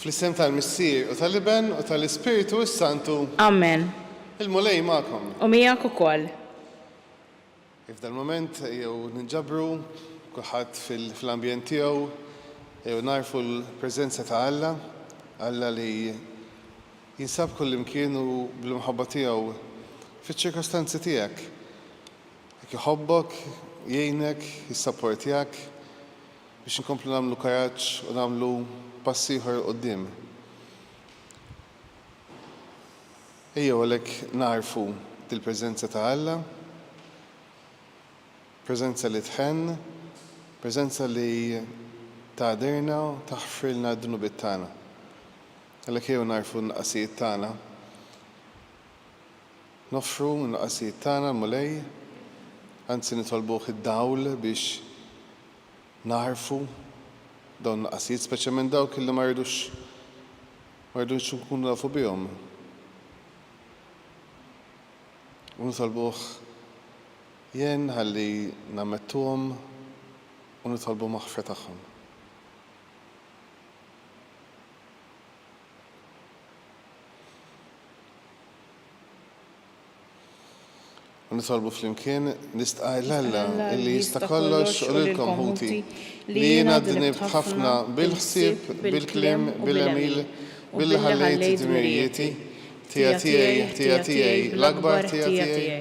Fl-isem tal-Missier, u tal-Iben, u tal-Ispirtu s-Santu. Amen. Il-Mulej magħkom. U miegħek ukoll. F'dan il-mument ejjew ninġabru kulħadd fl-ambjent tiegħu, ejjew nagħrfu l-preżenza ta' Alla, Alla li jinsab kullimkien u bl-imħabba tiegħu fiċ-ċirkostanzi tiegħek. Jekk iħobbok, jgħinek, jissapportjak. biex inkomplu nagħmlu karaġġ u nagħmlu pass ieħor 'il quddiem. Ejjew għalhekk nagħrfu dil-preżenza ta' Alla, preżenza li tħenn, preżenza li tagħdirna u taħfrilna d-dnubiet tagħna. Għalhekk ejjew nagħrfu n-nuqqasijiet tagħna, noffru n-nuqqasijiet tagħna l-Mulej, anzi nitolbuh id-dawl biex nagħrfu dawn il-nuqqasijiet, speċjalment dawk illi ma rridux ma rridux nkunu nafu bihom. U nitolbuh jgħin ħalli nammettuhom u nitolbu maħfra tagħhom. U nitolbu flimkien, nistqar l-Alla li jista' kollox u lilkom ħuti, li jiena dnibt ħafna bil-ħsieb, bil-kliem, bil-għemil, billi ħallejt dmirijieti, tija tiegħi, tija tiegħi, l-akbar tija tiegħi.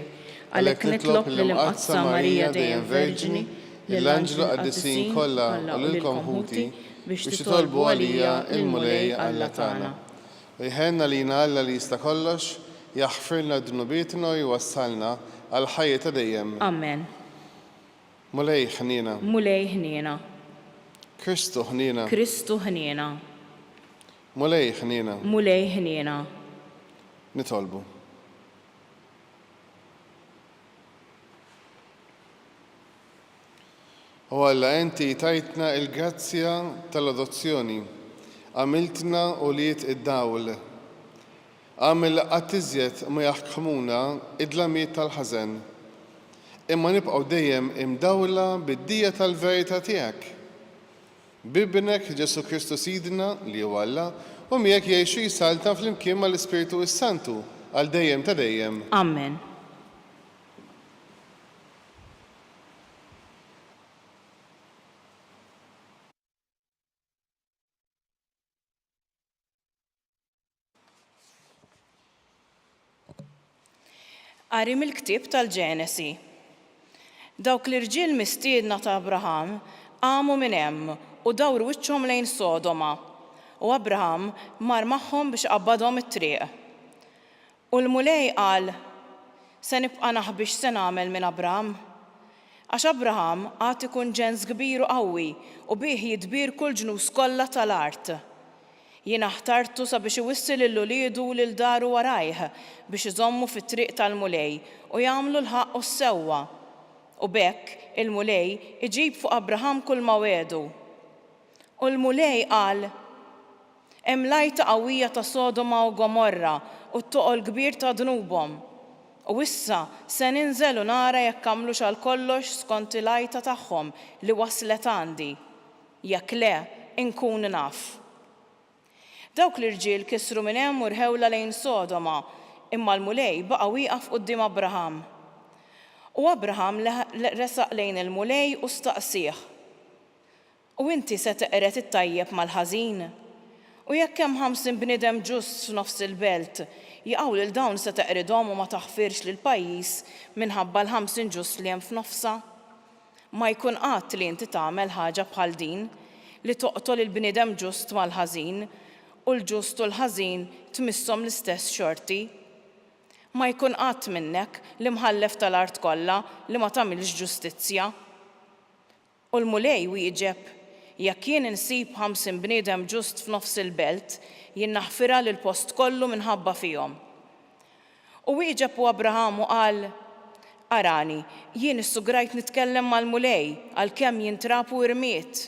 Għalhekk nitlob lill-Imqaddsa Marija Dejjem Verġni, lill-anġlu qaddisin kollha u lilkom ħuti biex titolbu għalija lill-Mulej Alla tagħna. Iħenn għalina Alla li jista' kollox, jaħfirlna dnubietna u jwassalna għall-ħajja ta' dejjem. Amen. Mulej ħniena. Mulej ħniena. Kristu ħniena. Kristu ħniena. Mulej ħniena. Mulej ħniena. Nitolbu. O Alla, inti tajtna l-grazzja tal-adozzjoni, għamiltna ulied id-dawl. Agħmel qatt iżjed ma jaħkmuna d-dlamiet tal-ħażen, imma nibqgħu dejjem imdawla bid-dija tal-verità tiegħek. B'Ibnek, Ġesù Kristu Sidna, li hu Alla, u miegħek jgħix u jsaltan flimkien mal-Ispirtu s-Santu għal dejjem ta' dejjem. Amen. Qari mill-ktieb tal-Ġenesi. Dawk l-irġiel mistiedna ta' Abraham qamu minn hemm u dawru wiċċhom lejn Sodoma, u Abraham mar magħhom biex iqabbadhom it-triq. U l-Mulej qal, Se nibqa' naħbi x'se nagħmel minn Abraham? Għax Abraham għad ikun ġens kbir u qawwi u bih jitbier kull ġnus kollha ta' l-art. Jiena ħtartu sabiex iwissi lil uliedu u lil daru warajh biex iżommu fit-triq tal-Mulej u jagħmlu l-ħaqq u s-sewwa. U b'hekk il-Mulej iġib fuq Abraham kulma wegħdu. U l-Mulej qal, Hemm l-għajta qawwija ta' Sodoma u Gomorra u t-toqol kbir ta' dnubhom. U issa se ninżel u nara jekk għamlux għalkollox skont il-għajta tagħhom li waslet għandi. Jekk le, inkun naf. Dawk l-irġiel kisru minn hemm u rħewlha lejn Sodoma, imma l-Mulej baqa' wieqaf quddiem Abraham. U Abraham resaq lejn il-Mulej u staqsieh. U inti se teqred it-tajjeb mal-ħażin? U jekk hemm ħamsin bniedem ġust f'nofs il-belt, jaqaw lil dawn se teqridhom u ma taħfirx lill-pajjiż minħabba l-ħamsin ġust li hemm f'nofsha? Ma jkun qatt li inti tagħmel ħaġa bħal din, li toqtol il-bniedem ġust mal-ħażin, u l-ġust u l-ħażin tmisshom l-istess xorti. Ma jkun qatt minnek, l-imħallef tal-art kollha, li ma tagħmilx ġustizzja. U l-Mulej wieġeb, Jekk jien insib ħamsin bniedem ġust f'nofs il-belt, jien naħfirha lill-post kollu minħabba fihom. U wieġeb u Abraham u qal, Arani, jien issugrajt nitkellem mal-Mulej, għalkemm jien trab u irmied.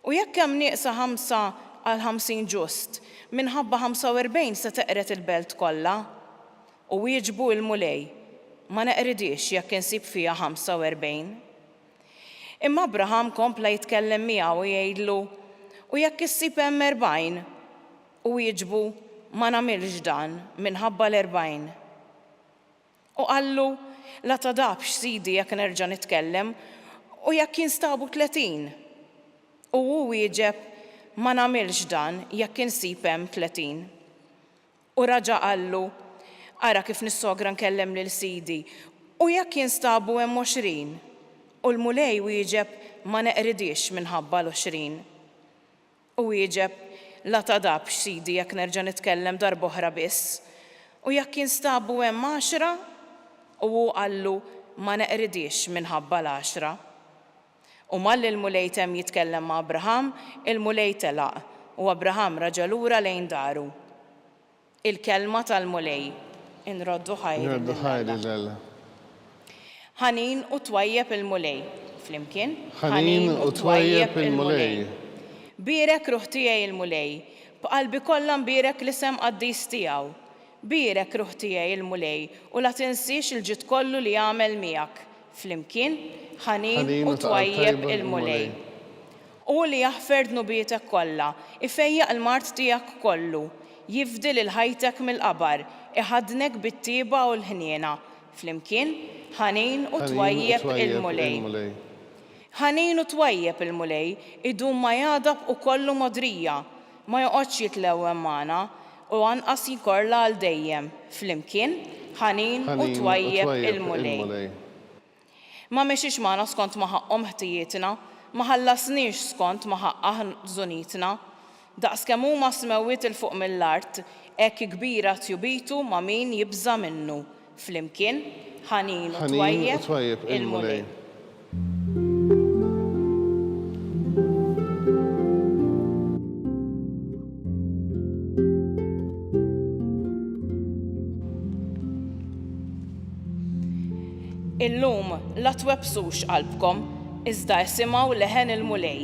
U jekk hemm nieqsa ħamsa għal ħamsin ġust, minħabba ħamsa u erbgħin se teqred il-belt kollha? U wieġbu l-Mulej, Ma neqridhiex jekk insib fiha ħamsa u erbgħin. Imma Abraham kompla jitkellem miegħu u jgħidlu, U jekk issib hemm erbgħin? U wieġbu, Ma nagħmilx dan, minħabba l-erbgħin. U qallu, La tagħdabx, sidi, jekk nerġa' nitkellem, U jekk jinstabu tletin? U hu wieġeb, Ma nagħmilx dan, jekk insib hemm tletin. U raġa' qallu, Ara kif nissogra nkellem lil sidi, u jekk jinstabu hemm għoxrin? U l-Mulej wieġeb, Ma neqridiex minħabba l-għoxrin. U wieġeb, La tagħdabx, sidi, jekk nerġa' nitkellem darb'oħra biss. U jekk jinstabu hemm għaxra? U hu qallu, Ma neqridiex minħabba l-għaxra. U malli l-Mulej temm jitkellem ma' Abraham, il-Mulej telaq, u Abraham raġa' lura lejn daru. Il-kelma tal-Mulej. Inroddu ħajri lil Alla. Ħanin u twajjeb il-Mulej. Flimkien, Ħanin u twajjeb il-Mulej. Bierek ruħ tiegħi l-Mulej, b'qalbi kollha nbierek l-isem qaddis tiegħu. Bierek ruħ tiegħi l-Mulej u la tinsiex il-ġid kollu li għamel miegħek. Flimkien, ħanin u twajjeb il-Mulej. Hu li jaħfer dnubietek kollha, ifejjaq l-mard tiegħek kollu, jifdi lil ħajtek mill-qabar, iħaddnek bit-tieba u l-ħniena. Flimkien, ħanin u twajjeb il-Mulej. Ħanin u twajjeb il-Mulej, idum ma jagħdab u kollu mogħdrija. Ma joqgħodx jitlewwem magħna, u anqas jkorla għal dejjem, flimkien, ħanin u twajjeb il-Mulej. Ma mexiex magħna skont ma ħaqqhom ħtijietna, ma ħallasniex skont ma ħaqqha ħzunitna. Daqskemm huma s-smewwiet 'il fuq mill-art, hekk kbira tjubitu ma' min jibża' minnu. Flimkien, ħanin u twajjeb il-Mulej. Illum, la twebbsux qalbkom, iżda isimgħu leħen il-Mulej.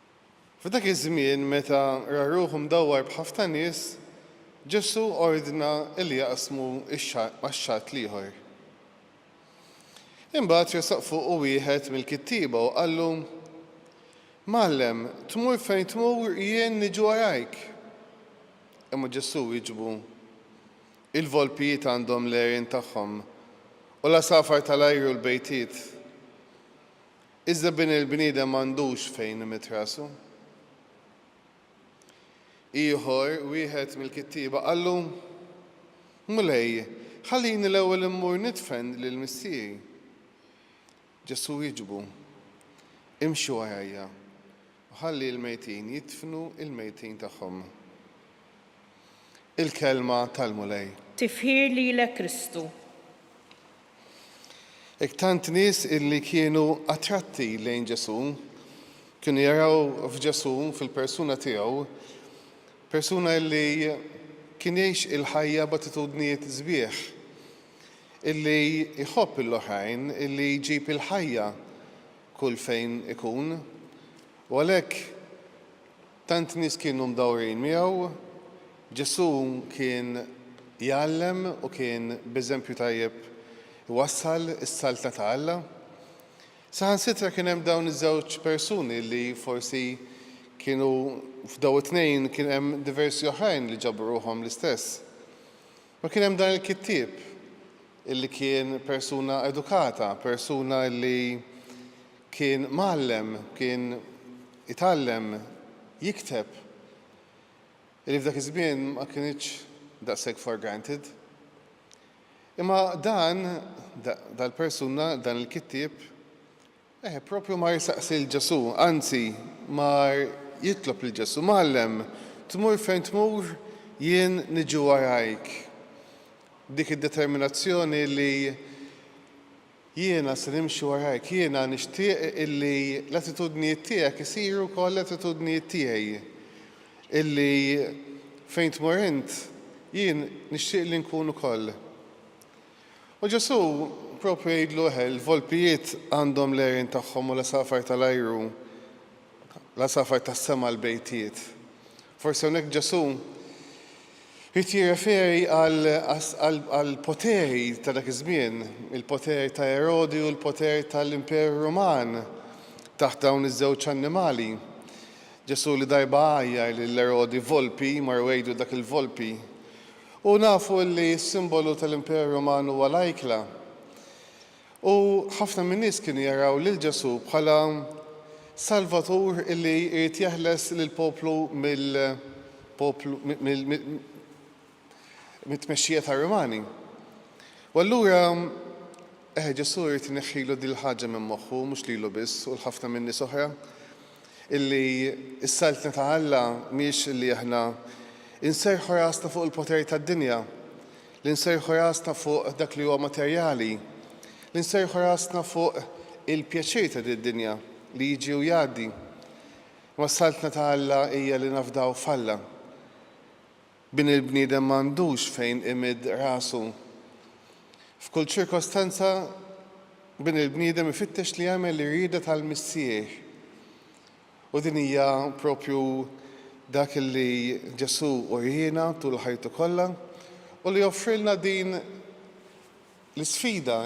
F'dak iż-żmien meta ra ruħu mdawwar b'ħafna nies, Ġesù ordna li jaqsmu x-xaqq max-xatt l-ieħor. Imbagħad resaq fuqu wieħed mill-kittieba u qallu, Mgħallem, tmur fejn tmur jien niġi warajk. Imma Ġesù wieġbu, Il-volpijiet għandhom l-għerien tagħhom, u l-għasafar tal-ajru l-bejtiet. Iżda Bin il-Bniedem m'għandux fejn imidd rasu. Ieħor wieħed mill-kittieba qallu, Mulej, ħallini l-ewwel immur nidfen lil missieri. Ġesù wieġbu, Imxi warajja. U ħalli l-mejtin jidfnu l-mejtin tagħhom. Il-Kelma tal-Mulej. Tifħir lilek Kristu. Hekk tant nies illi kienu attratti lejn Ġesù kienu jaraw f'Ġesù fil-persuna tiegħu persuna illi kien jgħix il-ħajja b'attitudnijiet sbieħ illi jħobb lill-oħrajn illi jġib il-ħajja kull fejn ikun, u għalhekk tant nies kienu mdawrin miegħu, Ġesù kien jgħallem u kien b'eżempju tajjeb iwassal is-Saltna ta' Alla. Saħansitra kien hemm dawn iż-żewġ persuni li forsi kienu f'daw it-tnejn kien hemm diversi oħrajn li ġabru ruħhom l-istess. U kien hemm dan il-kittieb illi kien persuna edukata, persuna illi kien mgħallem, kien itgħallem jikteb, illi f'dak iż-żmien ma kinitx daqshekk for granted. Imma dan, dal-persuna, dan il-kittieb, Eħe, proprju mar isaqsi lil Ġesù, anzi, mar jitlob lil Ġesù, Mgħallem, tmur fejn tmur, jien niġi warajk. Dik id-determinazzjoni li jiena se nimxi warajk, jiena nixtieq illi l-attitudnijiet tiegħek isiru wkoll l-attitudnijiet tiegħi, illi fejn tmur int, jien nixtieq li nkun ukoll. U Ġesù proprju jgħidlu eħe, il-volpijiet għandhom l-għerien tagħhom u l-għasafar tal-ajru, l-għasafar tas-sema l-bejtiet. Forsi hawnhekk Ġesù jrid jirreferi għall-poteri ta' dak iż-żmien, il-poter ta' Erodi u l-poter tal-Imperu Ruman taħt dawn iż-żewġ annimali. Ġesù li darba għajjar lil Erodi volpi, mar u għidlu dak il-volpi. U nafu li s-simbolu tal-Imperu Ruman huwa l-ajkla. U ħafna min-nies kienu jaraw lil Ġesù bħala Salvatur li jrid jeħles lill-poplu mill-poplu mit-tmexxija tar-Rumani. U allura, eħe, Ġesù jrid ineħħilu din il-ħaġa minn moħħu, mhux lilu biss u 'l ħafna min-nies oħra. Illi s-Saltna ta' Alla mhiex illi aħna nserrħu rasna fuq il-poteri tad-dinja, li nserrħu rasna fuq dak li huwa materjali, li nserrħu rasna fuq il-pjaċir ta' din id-dinja li jiġi u jgħaddi. Imma s-Saltna ta' Alla hija li nafdaw f'Alla. Bin il-bniedem m'għandux fejn imidd rasu. F'kull ċirkostanza bin il-bniedem ifittex li jagħmel l-irieda tal-Missier. U din hija proprju dak li Ġesù uriena tul ħajtu kollha u li offrilna din L-isfida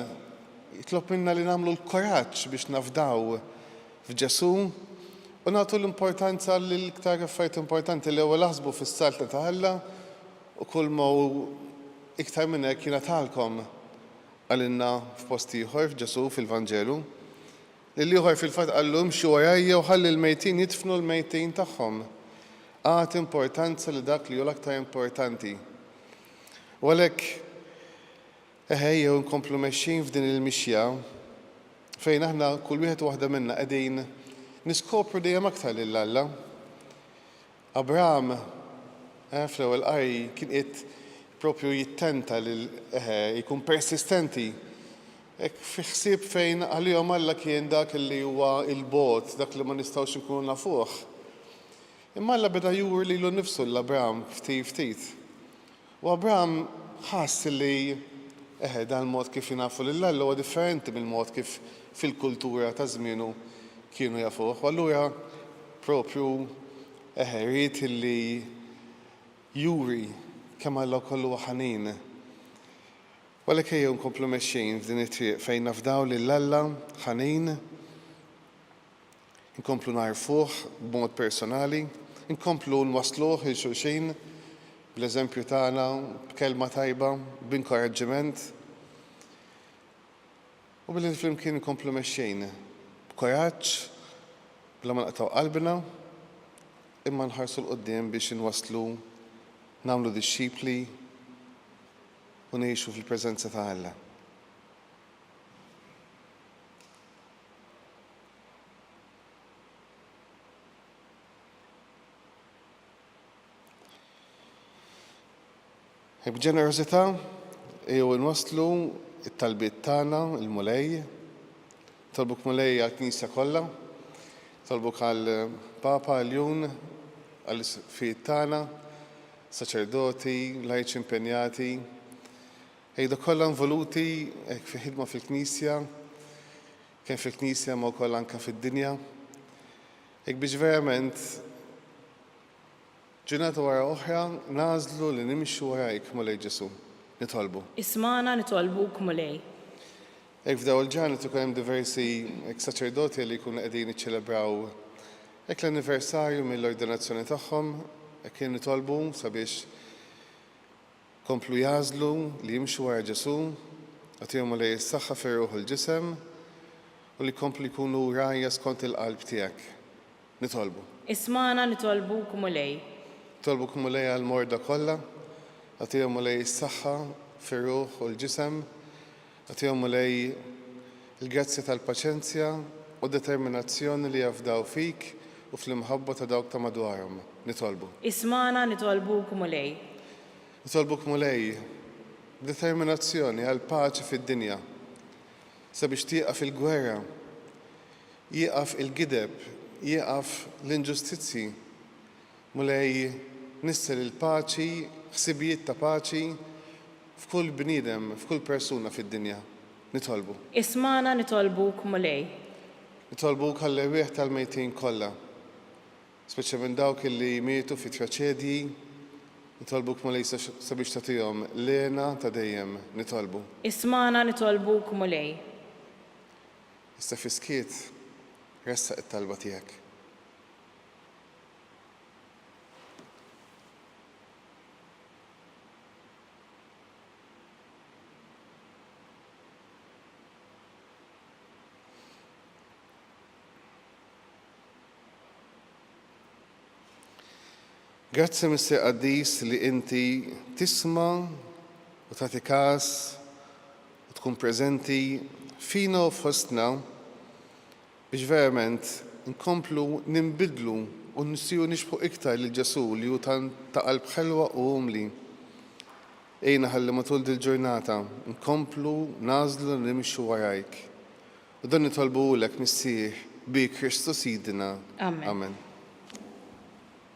jitlob minna li nagħmlu l-kuraġġ biex nafdaw f'Ġesù u nagħtu l-importanza lill-iktar affarijiet importanti, l-ewwel aħsbu fis-Saltna ta' Alla u kulma hu iktar minn hekk jingħatalkom, qalilna f'post ieħor Ġesù fil-Vanġelu. Lil ieħor fil-fatt qallu imxi warajja u ħalli l-mejtin jidfnu l-mejtin tagħhom. Agħti importanza li dak li hu l-aktar importanti. U għalhekk, eħe ejjew inkomplu mexjin f'din il-mixja fejn aħna kull wieħed u waħda minna qegħdin niskopru dejjem aktar lil Alla. Abraham eh, fl-ewwel qari kien qiegħed propju jittenta lil eħe jkun persistenti Ek fi ħsieb fejn għalihom Alla kien dak li huwa il-bot, dak li ma nistgħux nkunu nafuh. Imma Alla beda juri lilu nnifsu lil Abraham ftit ftit. U Abraham ħass li, eħe, dan il-mod kif jingħafu lil Alla huwa differenti mill-mod kif fil-kultura ta' żmienu kienu jafuh. U allura proprju, eħe, ried li juri kemm Alla wkoll huwa ħanin. U għalhekk ejjew inkomplu mexjin f'din it-triq fejn nafdaw lil Alla ħanin Inkomplu nagħrfuh b'mod personali, inkomplu nwassluh 'il xulxin bl-eżempju tagħna, b'kelma tajba, b'inkoraġġiment u billi flimkien inkomplu mexjin b'kuraġġ bla ma naqtgħu qalbna imma nħarsu 'l quddiem biex inwasslu nagħmlu dixxipli u ngħixu fil-preżenza ta' Alla. B'ġenerożità jew inwasslu t-talbiet tagħna l-Mulej. Tolbuk Mulej għall-Knisja kollha, tolbuk għall-Papa, għal-Jun, għall-isfijiet tagħna, saċerdoti, lajċi impenjati, ejdu kollha involuti fi ħidma fil-Knisja, Kemm fil-Knisja imma wkoll anke fid-dinja. Hekk biex verament ġurnata wara oħra nagħżlu li nimxu warajk, Mulej Ġesù. Nitolbu. Ismagħna nitolbuk, Mulej. Hekk f'dawn il-ġranet ikun hemm diversi hekk saċerdoti li jkunu qegħdin jiċċelebraw hekk l-anniversarju mill-ordinazzjoni tagħhom, hekk nitolbu sabiex Komplu jagħżlu li jimxu wara Ġesù, agħtihom Mulej is-saħħa fir-ruħ u l-ġisem, u li jkomplu jkunu rgħajja skont il-qalb tiegħek. Nitolbu. Ismagħna nitolbuk Mulej. Nitolbuk Mulej għall-morda kollha, agħtihom Mulej is-saħħa fir-ruħ u l-ġisem, Agħtihom, Mulej, il-grazzja tal-paċenzja u d-determinazzjoni li jafdaw fik u fl-imħabba ta' dawk ta' madwarhom. Nitolbu. Ismagħna, nitolbuk, Mulej. Nitolbuk, Mulej, b'determinazzjoni għall-paċi fid-dinja, sabiex tieqaf il-gwerra, jieqaf il-gideb, jieqaf l-inġustizzji, Mulej, nissel il-paċi, ħsibijiet ta' paċi f'kull bniedem, f'kull persuna fid-dinja. Nitolbu. Ismagħna nitolbuk, Mulej. Nitolbuk għall-erwieħ tal-mejtin kollha, speċjalment dawk li mietu fi traċedji. Nitolbuk, Mulej, sabiex tagħtihom l-hena ta' dejjem. Nitolbu. Ismagħna nitolbuk, Mulej. Issa fis-skiet, ressaq it-talba tiegħek. Grazzi Mister Qaddis li inti tisma u tagħti każ u tkun preżenti fina u fostna biex verament inkomplu ninbidlu u nsiru nixbħu iktar lil Ġesù li hu tant ta' qalb ħelwa u umli. Għinna ħalli matul dil-ġurnata nkomplu nagħżlu li nimxu warajk. U dan nitolbuhulek, Missier, bi Kristu Sidina. Amen.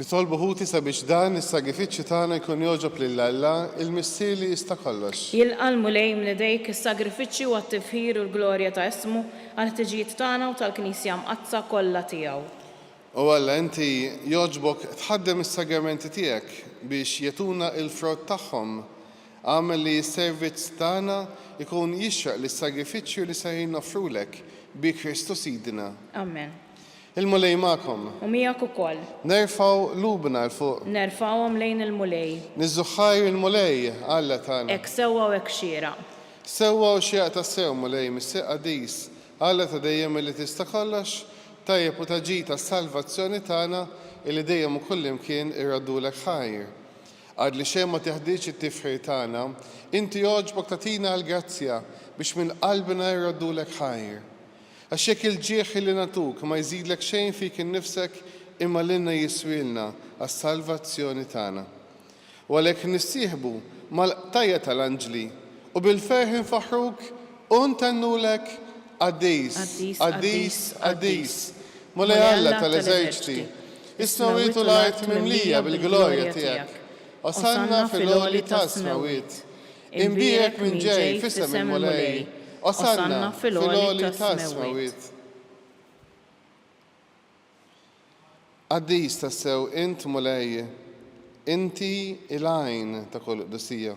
Nitolbu ħuti sabiex dan is-sagrifiċċju tagħna jkun jogħġob lil Alla, il-Missier li jista' kollox. Jilqa' l-Mulej minn idejk is-sagrifiċċju għat-tifħir u l-glorja ta' ismu, għall-ħtiġijiet tagħna u tal-Knisja Mqaddsa kollha tiegħu. O Alla, inti jogħġbok tħaddem is-sagramenti tiegħek biex jagħtuna l-frott tagħhom. Agħmel li s-servizz tagħna jkun jixraq lis-sagrifiċċju li ser noffrulek bi Kristu Sidna. Amen. Il-Mulej magħkom. U miegħek ukoll. Nerfgħu qlubna 'l fuq. Nerfgħuhom lejn il-Mulej. Niżżuħħar il-Mulej, Alla tagħna. Hekk sewwa u hekk xieraq. Sewwa u xieraq tassew, Mulej, Missier qaddis, Alla ta' dejjem illi tista' kollox, tajjeb u ta' ġid għas-salvazzjoni tagħna, illi dejjem u kullimkien irraddulek ħajr. Għad li xejn ma teħdiex it-tifħir tagħna, Inti għoġbok tagħtina l-grazzja biex minn qalbna irroddulek ħajr. Għax jekk il-ġieħ li nagħtuk ma jżidlek xejn fik innifsek imma lilna jiswielna għas-salvazzjoni tagħna. U għalhekk nissieħbu mal-qtajja' tal-anġli u bil-ferħ infaħħruk u ntennulek, Qaddis, qaddis, qaddis, Mulej Alla tal-eżerċti, Is-smewwiet u l-art mimlija bil-glorja tiegħek. Osanna fil-għoli tas-smewwiet. Imbierek min ġej f'isem il-Mulej. Osanna fil-għoli tas-smewwiet. Qaddis tassew int Mulej, inti l-għajn ta' kull qdusija.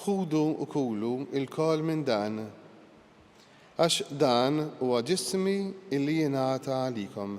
Ħudu u kulu lkoll minn dan, għax dan huwa ġismi li jingħata għalikom.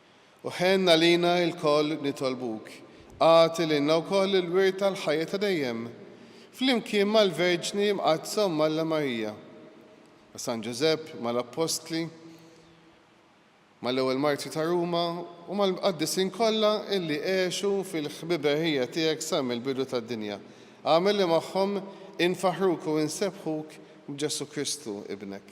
U ħenn għalina lkoll nitolbuk, agħti lilna wkoll il-wirt tal-ħajja ta' dejjem, flimkien mal-Verġni Mqaddsa Omm Alla Marija, ma' San Ġużepp, mal-Appostli, mal-ewwel martri ta' Ruma u mal-mqaddisin kollha illi għexu fil-ħbiberħija tiegħek sa mill-bidu tad-dinja. Agħmel li magħhom infaħħruk u insebbħuk b'Ġesù Kristu, Ibnek.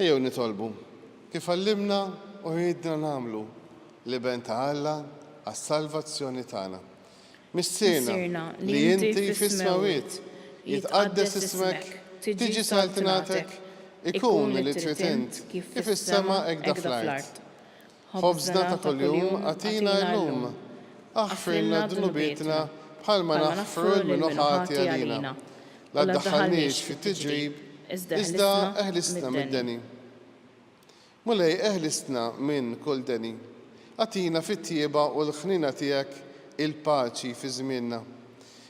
Ejjew nitolbu, kif għallimna u għidna nagħmlu, l-Iben ta' Alla għas-salvazzjoni tagħna. Missierna, li inti fis-smewwiet, jitqaddes ismek, tiġi saltnatek, ikun li trid int, kif fis-sema hekk da fl-art. Ħobżna ta' kuljum agħtina illum. Aħfrilna dnubietna bħalma naħfru lil min hu ħati għalina. La ddaħħalniex fi tiġrib, iżda eħlisna mid-deni. Mulej eħlisna minn kull deni. Agħtina fit-tjieba u l-ħniena tiegħek il-paċi fi żmienna.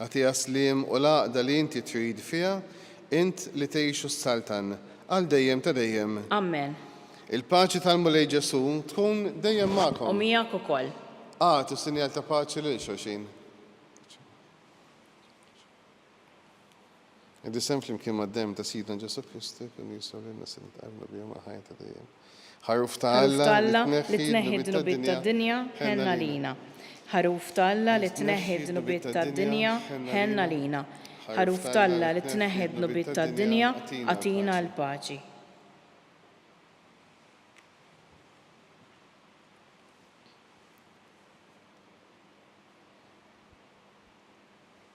Agħtiha s-sliem u l-għaqda li inti trid fiha, int li tgħix u ssaltan għal dejjem ta' dejjem. Amen. Il-paċi tal-Mulej Ġesù tkun dejjem magħkom. U miegħek ukoll. Agħtu sinjal ta' paċi lil xulxin. Id-disem flimkien mad-demm ta' Sidna Ġesù Kristu jkun jiswa lilna se nitqarrnu bihom għall-ħajja ta' dejjem. Ħaruf ta' Alla li tneħħi d-dnubiet tad-dinja, ħenn għalina. Ħaruf ta' Alla li tneħħi d-dnubiet tad-dinja, ħenn għalina. Ħaruf ta' Alla li tneħħi d-dnubiet tad-dinja, agħtina l-paċi.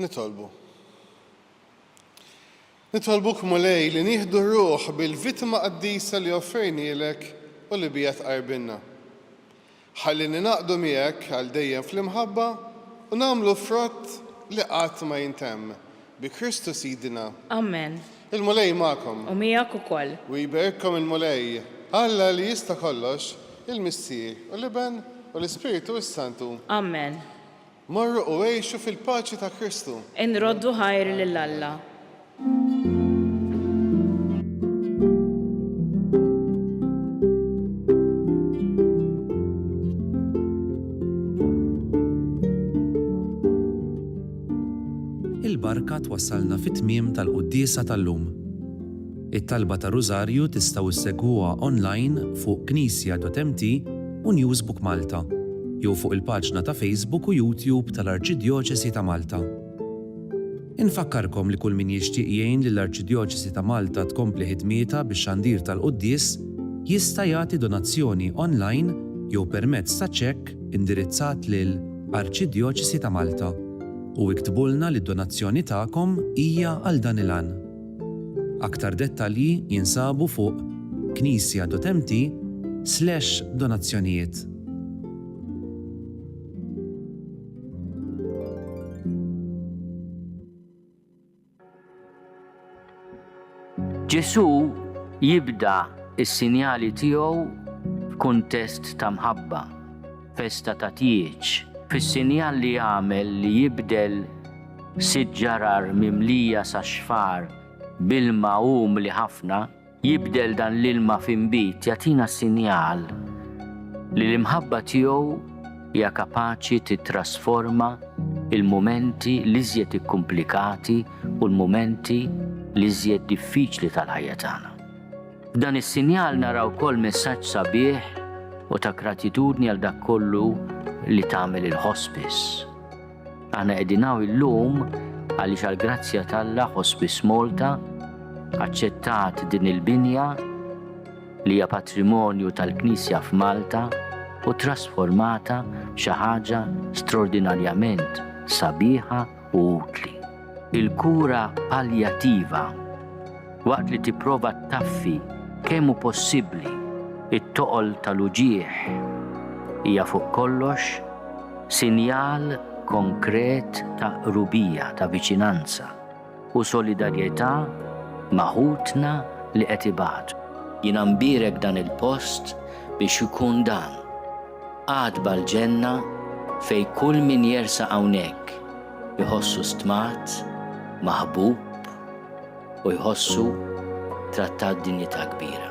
Nitolbu. Nitolbuk, Mulej, li nieħdu r-ruħ bil-vittma qaddisa li offrejnielek u li biha tqarrbilna. Ħalli ningħaqdu miegħek għal dejjem fl-imħabba u nagħmlu frott li qatt ma jintemm, bi Kristu Sidna. Amen. Il-Mulej magħkom. U miegħek ukoll. U jberikkom il-Mulej, Alla li jista' kollox, il-Missier, u l-Iben, u l-Ispirtu s-Santu. Amen. Morru u għixu fil-paċi ta' Kristu. Inroddu ħajr lil Alla. Il-barka twassalna fit-tmiem tal-quddiesa tal-lum. It-talba tar-Rużarju tistgħu ssegwuha online fuq Knisja.mt u Newsbook Malta, jew fuq il-paġna ta' Facebook u YouTube tal-Arċidjoċesi ta' Malta. Infakkarkom li kull min jixtieq jgħin lill-Arċidjoċesi ta' Malta tkompli ħidmietha bix-xandir tal-quddies jista' jagħti donazzjoni online jew permezz ta' ċekk indirizzat lil Arċidjoċesi ta' Malta u iktbulna li d-donazzjoni tagħkom hija għal dan il-għan. Aktar dettalji jinsabu fuq knisjadotemti slash donazzjonijiet. Ġesù jibda s-sinjali tiegħu f'kuntest ta' mħabba. festa ta' tieġ, fis-sinjal li jagħmel li jibdel sitt ġarar mimlija sax-xfar b'ilma umli ħafna, jibdel dan l-ilma f'inbid, jagħtina sinjal li l-imħabba tiegħu hija kapaċi tittrasforma l-mumenti l-iżjed ikkumplikati u l-mumenti l-iżjed diffiċli tal-ħajja tagħna. F'dan is-sinjal nara wkoll messaġġ sabiħ u ta' gratitudni għal dak kollu li tagħmel il-hospice. Aħna qegħdin hawn illum għaliex għal grazzja t'Alla Hospice Malta aċċettat din il-binja li hija patrimonju tal-Knisja f'Malta u trasformata xi ħaġa straordinarjament sabiħa u utli. Il-kura paljattiva, waqt li tipprova taffi kemm hu possibbli it-toqol tal-uġigħ, hija fuq kollox sinjal konkret ta' qrubija, ta' viċinanza u solidarjetà ma' ħutna li qed ibatu. Jiena nbierek dan il-post biex ikun dan. Għatba l-ġenna fejn kull min jersaq hawnhekk iħossu stmat, maħbub u jħossu trattat b'dinjità kbira.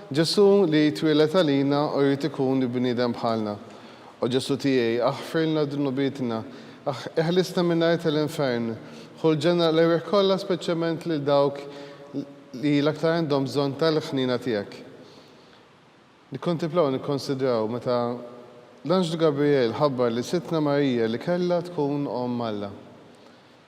Ġesù li jitwieled għalina u jrid ikun bniedem bħalna. O Ġesù tiegħi, aħfirlna dnubietna, iħlisna min-nar tal-infern, ħu l-ġenna l-erwieħ kollha speċjalment lil dawk li l-aktar għandhom bżonn tal-ħniena tiegħek. Nikkontiplaw u nikkonsidraw meta l-anġlu Gabriel ħabbar lil Sidtna Marija li kellha tkun Omm Alla.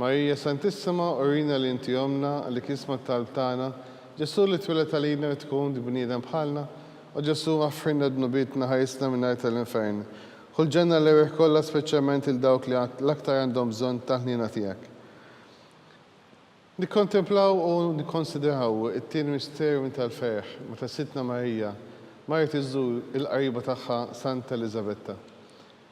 Marija Santissima, urina li inti ommna, li kisma t-talb tagħna, Ġesù li tweled għalina rid tkun bniedem bħalna, O Ġesù, aħfrilna dnubietna, ħarisna min-nar tal-infern, ħu l-ġenna l-erwieħ kollha speċjalment lil dawk li l-aktar għandhom bżonn tal-ħniena tiegħek. Nikkontemplaw u nikkonsidraw it-tieni misteru tal-ferħ, meta Sidtna Marija marret iżżur il-qariba tagħha Santa Eliżabetta.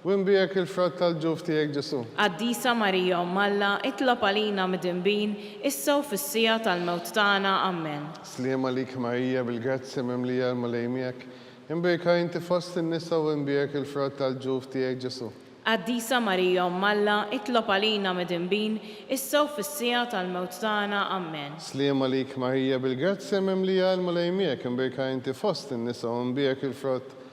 U nbiegħek il-frott tal-ġuf tiegħek Ġesù. Qaddisa Marija Omm Alla, itlob għalina midinbin, issa u fis-siegħa tal-mewt tagħna. Ammen. Sliem għalik Marija, bil-grazzja mimlija l-Mulej miegħek, imbieka inti fost in-nisa u nbiegħek il-frott tal-ġuf tiegħek Ġesù. Qaddisa Marija Omm Alla, itlob għalina midinbin, issa u fis-siegħa tal-mewt tagħna. Ammen. Sliem għalik Marija, bil-grazzja mimlija l-Mulej miegħek, imbieka inti fost in-nisa u nbiegħek il-frott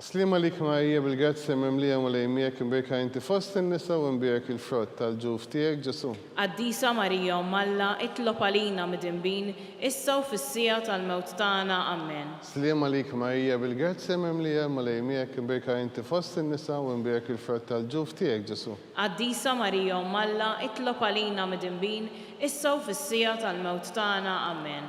Sliema lik mgħejjeb il-grazja mimlija Mulej miegħek imbierka inti fost in-nisa u imbierek il-frott tal-ġuf tiegħek Ġesù. Qaddisa Marija Omm Alla itlob għalina midinbin issa u fis-siegħa tal-mewt tagħna Amen. Sliema lik mgħejjeb il-grazja mimlija Mulej miegħek imbierka inti fost in-nisa u imbierek il-frott tal-ġuf tiegħek Ġesù. Qaddisa Marija Omm Alla itlob għalina midinbin issa u fis-siegħa tal-mewt tagħna Amen.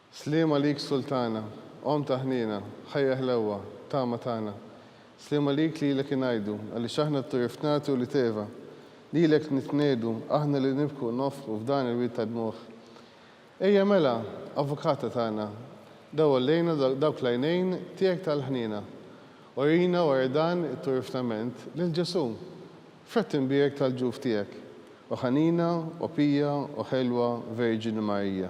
Sliem għalik Sultana, Omm ta' ħniena, Ħajja ħlewwa, Tama tagħna. Sliem għalik lilek ingħidu, Għaliex aħna t-turi fnati u li teva. Lilek nitniegħdu, aħna li nibku u nofqu f'dan il-wied ta' dmugħ. Ejja mela, Avukata tagħna, dawwal lejna dawk l-għajnejn tiegħek tal-ħniena. Urina wara dan it-turi fnament lil Ġesù, frott imbierek tal-ġuf tiegħek, O ħanina, O pija, O ħelwa Verġini Marija.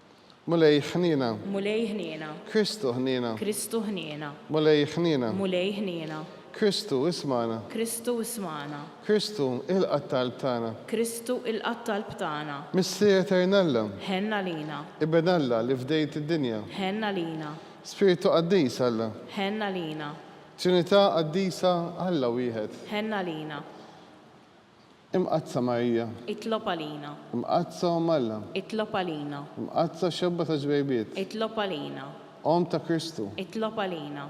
Mulej ħniena. Mulej ħniena. Kristu ħniena. Kristu ħniena. Mulej ħniena. Mulej ħniena. Kristu ismagħna. Kristu ismagħna. Kristu ilqa' t-talb tagħna. Kristu ilqa' t-talb tagħna. Missier Etern Alla. Ħenn għalina. Iben Alla li fdejt id-dinja. Ħenn għalina. Spirtu Qaddis Alla. Ħenn għalina. Trinità Qaddisa Alla wieħed. Ħenn għalina. Imqaddsa Marija. Itlob għalina. Imqaddsa Omm Alla. Itlob għalina. Imqaddsa Xebba ta' Ġbejbiet. Itlob għalina. Omm ta' Kristu. Itlob għalina.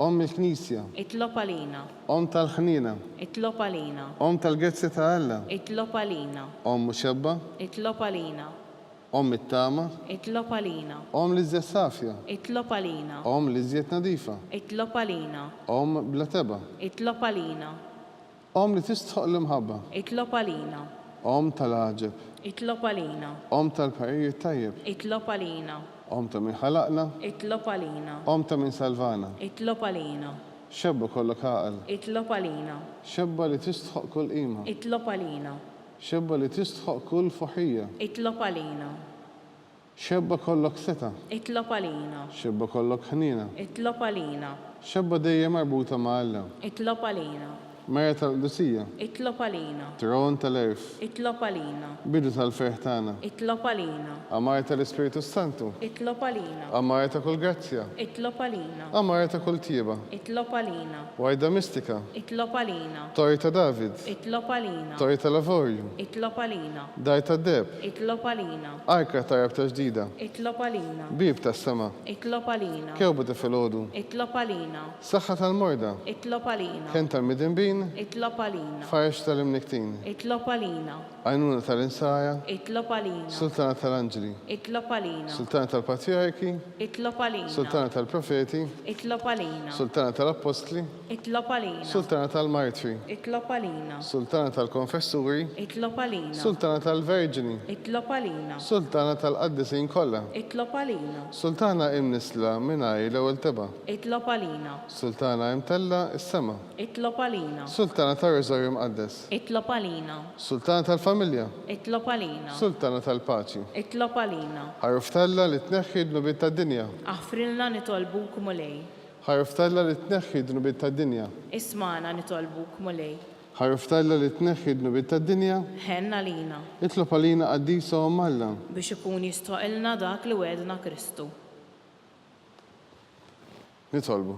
Omm il-Knisja. Itlob għalina. Omm tal-ħniena. Itlob għalina. Omm tal-gezzja ta' Alla. Itlob għalina. Omm muxebba. Itlob għalina. Omm it-tama. Itlob għalina. Omm l-iżjed safja. Itlob għalina. Omm l-iżjed nadifa. Itlob għalina. Omm bla tebgħa. Itlob għalina. Omm li tistħoqq l-imħabba. Itlob għalina. Omm tal-għaġeb. Itlob għalina. Omm tal-parir it-tajjeb. Itlob għalina. Omm ta' min ħalaqna. Itlob għalina. Omm ta' min salvana. Itlob għalina. Xebba kollok għaqal. Itlob għalina. Xebba li tistħoqq kull qima. Itlob għalina. Xebba li tistħoqq kull fuħija. Itlob għalina. X'ebba kollok setgħa. Itlob għalina. X'ebba kollok ħniena. Itlob għalina. X'ebba dejjem marbuta ma' Alla. Itlob għalina. Mera tal-qdusija. Itlob għalina. Tron tal-għerf. Itlob għalina. Bidu tal-ferħ tagħna. Itlob għalina. Għamara tal-Ispirtu s-Santu. Itlob għalina. Għamara ta' kull grazzja. Itlob għalina. Għamara ta' kull tjieba. Itlob għalina. Warda mistika. Itlob għalina. Torri ta' David. Itlob għalina. Torri tal-avorju. Itlob għalina. Dar tad-deheb. Itlob għalina. Ajkra tajjeb ta' ġdida. Itlob għalina. Bieb tas-sema. Itlob għalina. Kewba ta' filgħodu. Itlob għalina. Saħħa tal-morda. Itlob għalina. Kenn tal-midinbin. Itlob għalina. Farġ tal-imnikktin. Itlob għalina. Għajnuna tal-insara. Itlob għalina. Sultana tal-anġli. Itlob għalina. Sultana tal-patrijarki. Itlob għalina. Sultana tal-profeti. Itlob għalina. Sultana tal-appostli. Itlob għalina. Sultana tal-Martri. Itlob għalina. Sultana tal-Konfessuri. Itlob għalina. Sultana tal-Verġni. Itlob għalina. Sultana tal-Qaddisin kollha. Itlob għalina. Sultana imnissla mingħajr l-ewwel tebgħa. Itlob għalina. Sultana imtellgħa s-sema. Itlob għalina. Sultana tar-Rożarju Mqaddes. Itlob għalina. Sultana tal-Familja. Itlob għalina. Sultana tal-Paċi. Itlob għalina. Għaruf t'Alla li tneħħi d-dnubiet tad-dinja. Aħfrilna nitolbuk, Mulej. Ħarrftalha li tneħħi d-dnubiet tad-dinja. Ismagħna nitolbuk, Mulej. Ħarrftalha li tneħħi d-dnubiet tad-dinja. Ħenn għalina. Itlob għalina Qaddisa Omm Alla. Biex ikun jistħoqqilna dak li wegħedna Kristu. Nitolbu.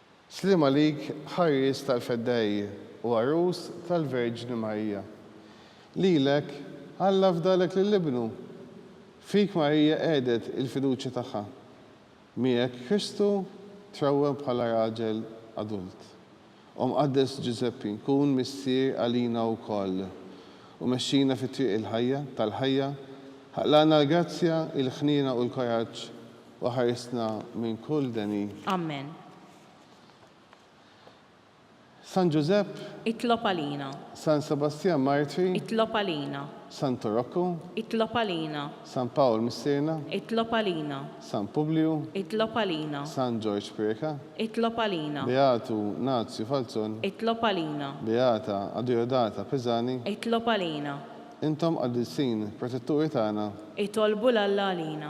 Sliem għalik ħarries tal-feddejji u għarus tal-Verġni Marija. Lilek Alla fdalek lil Ibnu. Fik Marija qegħdet il-fiduċja tagħha. Miegħek Kristu trawwem bħala raġel adult. O Mqaddes Ġużeppi kun missier għalina wkoll u mexxina fit-triq il-ħajja, tal-ħajja, ħaqlaqna l-grazzja, il-ħniena u l-koraġġ U ħarisna minn kull deni. Ammen. San Ġużepp. Itlob għalina. San Sebastjan Martri. Itlob għalina. Santu Rokku. Itlob għalina. San Pawl Missierna. Itlob għalina. San Publiju. Itlob għalina. San Ġorġ Prieka. Itlob għalina. Beatu Nazju Falzon. Itlob għalina. Beata Adujodata Pisani. Itlob għalina. Intom qaddisin, protetturi tagħna. Itolbu 'l Alla għalina.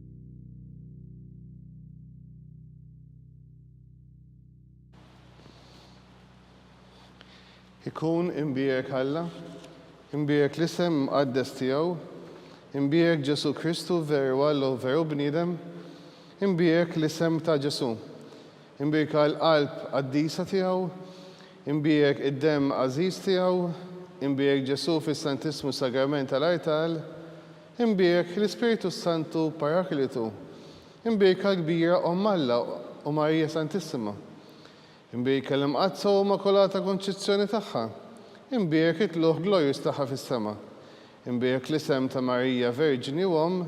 Ikun imbierek Alla, imbierek l-isem imqaddes tiegħu, imbierek Ġesù Kristu veru Alla u veru bniedem, imbierek l-isem ta' Ġesù, imbierka l-qalb qaddisa tiegħu, imbierek id-demm għażiż tiegħu, imbierek Ġesù fis-Santissmu Sagrament tal-artal, Imbierek l-Ispirtu s-Santu Paraklitu. Imbierka l-kbira Omm Alla u Marija Santissima. Imbierka l-Imqaddsa u Immakulata Konċizzjoni tagħha. Imbierek it-tlugħ glorjuż tagħha fis-sema. Imbierek l-isem ta' Marija Verġni u Omm.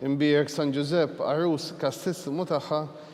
Imbierek San Ġużepp, Għarus kastissimu tagħha.